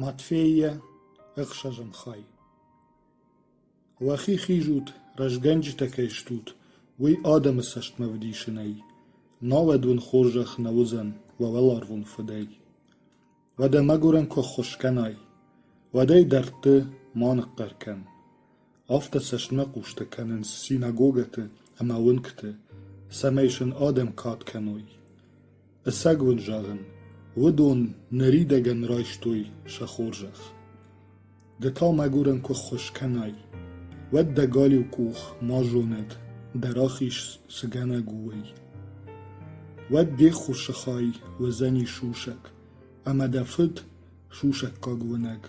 Матвейӕ, ӕхсӕзӕм хай. Уӕхи хизут, рӕзгӕнджытӕ кӕй стут, уый адӕмы цӕстмӕ вдисынӕй, науӕд уын хорзӕх нӕ уыдзӕн уӕ уӕларвон Фыдӕй. Уӕдӕ мӕгуырӕн куы ӕххуыс кӕнай, уӕд ӕй дӕрдты ма ныхъхъӕр кӕн. Афтӕ цӕстмӕхъустӕ кӕнынц синагогӕты ӕмӕ уынгты, цӕмӕй сын адӕм кад кӕной. Ӕцӕг уын зӕгъын, уыдон ныридӕгӕн райстой сӕ хорзӕх. Ды та мӕгуырӕн куы ххуыс кӕнай, уӕд дӕ галиу къух ма зонӕд, дӕ рахиз цы гӕнӕг у, уый. Уӕд де ххуысы хай уыдзӕни сусӕг, ӕмӕ дӕ фыд, сусӕггаг уынӕг,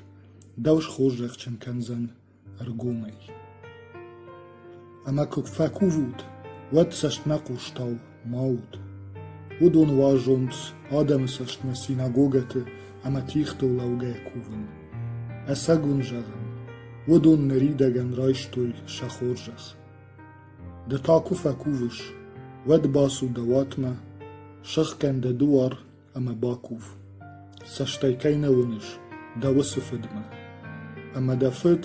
дӕу схорзӕхджын кӕндзӕн ӕргомӕй. Ӕмӕ куыд фӕкувут, уӕд цӕстмӕ хъустау ма ут. Уыдон уарзонц адӕмы цӕстмӕ синагогӕты ӕмӕ тигътыл лӕугӕ кувын. Ӕцӕг уын зӕгъын, уыдон ныридӕгӕн райстой сӕ хорзӕх. Ды та куы фӕкувыс, уӕд бацу дӕ уатмӕ, сыхгӕн дӕ дуар ӕмӕ бакув. Цӕстӕй кӕй нӕ уыныс дӕ уыцы фыдмӕ. Ӕмӕ дӕ фыд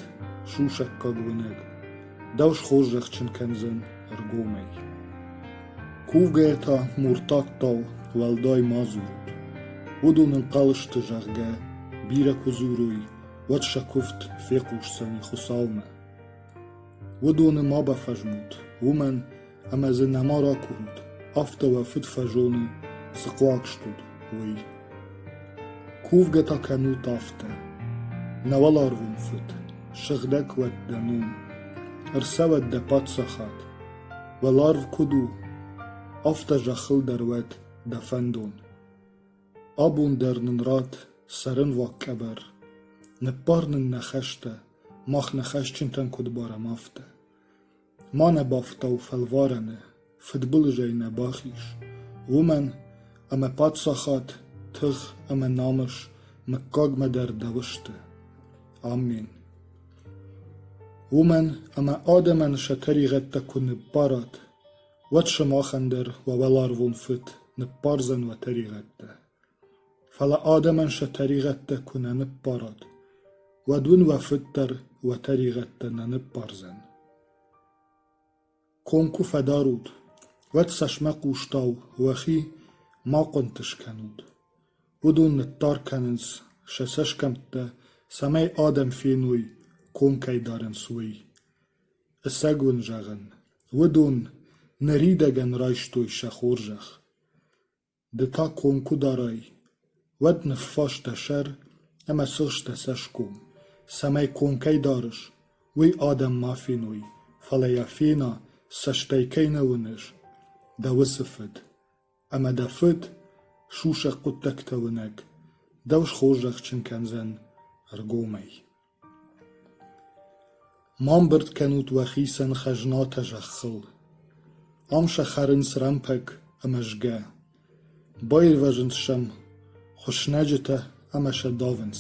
сусӕггаг уынӕг. Дӕу схорзӕхджын кӕндзӕн ӕргомӕй. Кувгӕйӕ та муртаттау уӕлдай ма дзурут. Уыдон ӕнхъӕл сты, зӕгъгӕ, бирӕ куы дзурой, уӕд сӕ куывд фехъусдзӕни Хуыцаумӕ. Уыдоны ма бафӕзмут, уымӕн ӕмӕ дзы нӕма ракурут, афтӕ уӕ фыд фӕзоны, цы хъуаг стут, уый. Кувгӕ та кӕнут афтӕ: Нӕ уӕларвон фыд, сыгъдӕг уӕд дӕ ном, ӕрцӕуӕд дӕ паддзахад. Уӕларв куыд у, афтӕ зӕххыл дӕр уӕд дӕ фӕндон. Абон дӕр нын ратт цӕрӕнуаг къӕбӕр, ныббар нын нӕ хӕстӕ, мах нӕ хӕсджынтӕн куыд барӕм, афтӕ. Ма нӕ бафтау фӕлварӕны, фыдбылызӕй нӕ бахиз, уымӕн ӕмӕ паддзахад, тых ӕмӕ намыс мыггагмӕ дӕр дӕу сты. Амин. Уымӕн ӕмӕ адӕмӕн сӕ тӕригъӕдтӕ куы ныббарат, уӕд сымахӕн дӕр уӕ уӕларвон Фыд ныббардзӕн уӕ тӕригъӕдтӕ. Фӕлӕ адӕмӕн сӕ тӕригъӕдтӕ куы нӕ ныббарат, уӕд уын уӕ фыд дӕр уӕ тӕригъӕдтӕ нӕ ныббардзӕн. Ком куы фӕдарут, уӕд цӕсмӕ хъустау уӕхи ма хъуынты скӕнут. Уыдон ныттар кӕнынц сӕ цӕсгӕмттӕ, цӕмӕй адӕм феной, ком кӕй дарынц, уый. Ӕцӕг уын зӕгъын, уыдон ныридӕгӕн райстой сӕ хорзӕх. Ды та ком куы дарай, уӕд ныффаста сӕр ӕмӕ сыгъста цӕсгом, цӕмӕй ком кӕй дарыс, уый адӕм ма феной, фӕлӕ йӕ фена, цӕстӕй кӕй нӕ уыныс, дӕ уыцы фыд. Ӕмӕ дӕ фыд, сусӕг хъуыддӕгтӕ уынӕг, дӕу схорзӕхджын кӕндзӕн ӕргомӕй. Ма мбырд кӕнут уӕхицӕн хӕзнатӕ зӕххыл. Ам сӕ хӕрынц рӕмпӕг ӕмӕ згӕ. Баирвӕзынц сӕм хуыснӕджытӕ ӕмӕ сӕ давынц.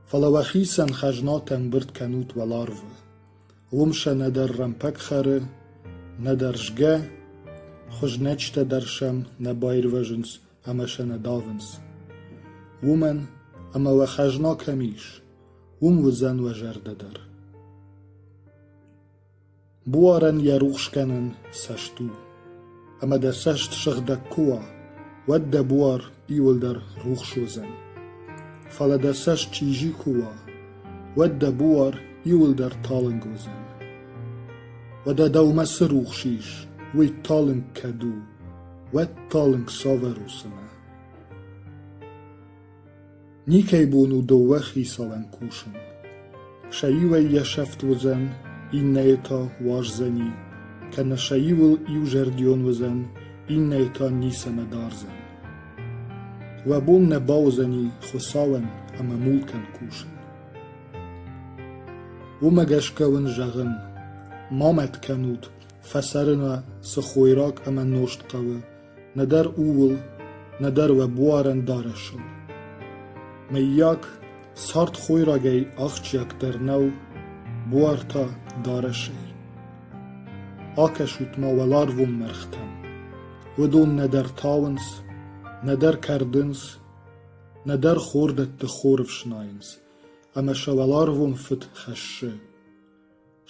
Фӕлӕ уӕхицӕн хӕзнатӕ мбырд кӕнут уӕларвы. Уым сӕ нӕдӕр рӕмпӕг хӕры, нӕдӕр згӕ, хуызнӕджытӕ дӕр сӕм нӕ баирвӕзынц ӕмӕ сӕ нӕ далвынц. Уымӕн, ӕмӕ уӕ хӕзна кӕм ис, уым уыдзӕн уӕ зӕрдӕ дӕр. Буарӕн йӕ рухсгӕнӕн цӕст у, ӕмӕ дӕ цӕст сыгъдӕг куы уа, уӕд дӕ буар иуылдӕр рухс уыдзӕн. Фӕлӕ дӕ цӕст чъизи куы уа, уӕд дӕ буар иуылдӕр талынг уыдзӕн. Уӕдӕ дӕумӕ цы рухс ис, уый талынг кӕд у, уӕд талынг саверусимӕ. Никӕй бон у дыууӕ хицауӕн кусын. Сӕ иуӕй йӕ сӕфт уыдзӕн, иннӕйы та уарздзӕни, кӕнӕ сӕ иуыл иузӕрдион уыдзӕн, иннӕйы та ницӕмӕ дардзӕн. Уӕ бон нӕ бауыдзӕни Хуыцауӕн ӕмӕ мулкӕн кусын. Уымӕ гӕсгӕ уын зӕгъын, ма мӕт кӕнут, Фӕцӕрына цы хойраг ӕмӕ нозт хъӕуы, нӕдӕр ууыл, нӕдӕр уӕ буарӕн дарӕсыл. Мыййаг, цард хойрагӕй ахджиагдӕр нӕу, буар та – дарӕсӕй. Акӕсут-ма уӕларвон мӕргътӕм. Уыдон нӕдӕр тауынц, нӕдӕр кӕрдынц, нӕдӕр хордӕтты хор ӕфснайынц, ӕмӕ сӕ уӕларвон фыд хӕссы.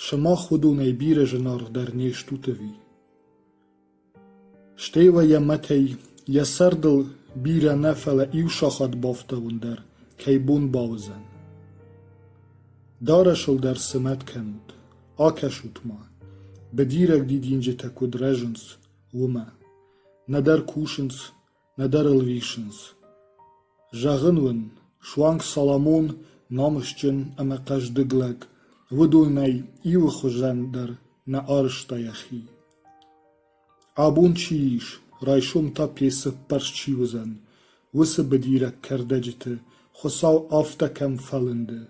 Сымах уыдонӕй бирӕ зынаргъ дӕр не стут ӕви? Стӕй уӕ йӕ мӕтӕй, йӕ цардыл бирӕ нӕ, фӕлӕ иу сахат бафтауын дӕр кӕй бон бауыдзӕн. Дарӕсыл дӕр цы мӕт кӕнут, акӕсут-ма, быдираг дидинджытӕ куыд рӕзынц, уымӕ. Нӕдӕр кусынц, нӕдӕр ыл риссынц. Зӕгъын уын, суанг Соломон намысджын ӕмӕ хъӕздыг лӕг уыдонӕй иуы хуызӕн дӕр нӕ арызта йӕхи. Абон чи ис, райсом та пецӕппӕрст чи уыдзӕн, уыцы быдираг кӕрдӕджыты Хуыцау афтӕ кӕм фӕлынды,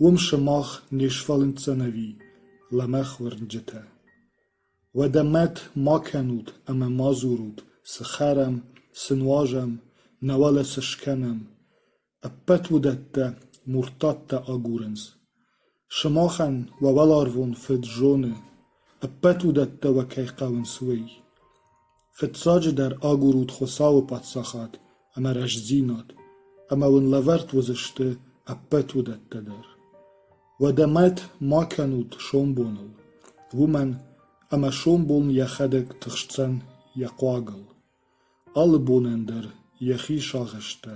уым сымах не сфӕлынддзӕн ӕви лӕмӕгъ уырнджытӕ. Уӕдӕ мӕт ма кӕнут ӕмӕ ма дзурут, цы хӕрам, цы нуазӕм, науӕд цы скӕнӕм. Ӕппӕт уыдӕттӕ Муртаттӕ агурынц. Сымахӕн уӕ уӕларвон Фыд зоны, ӕппӕт уыдӕттӕ уӕ кӕй хъӕуынц, уый. Фыццаджыдӕр агурут Хуыцауы Паддзахад ӕмӕ рӕстдзинад, ӕмӕ уын лӕвӕрд уыдзысты ӕппӕт уыдӕттӕ дӕр. Уӕдӕ мӕт ма кӕнут сомбоныл, уымӕн ӕмӕ сомбон йӕхӕдӕг тыхсдзӕн йӕ хъуагыл. Алы бонӕн дӕр йӕхи сагъӕстӕ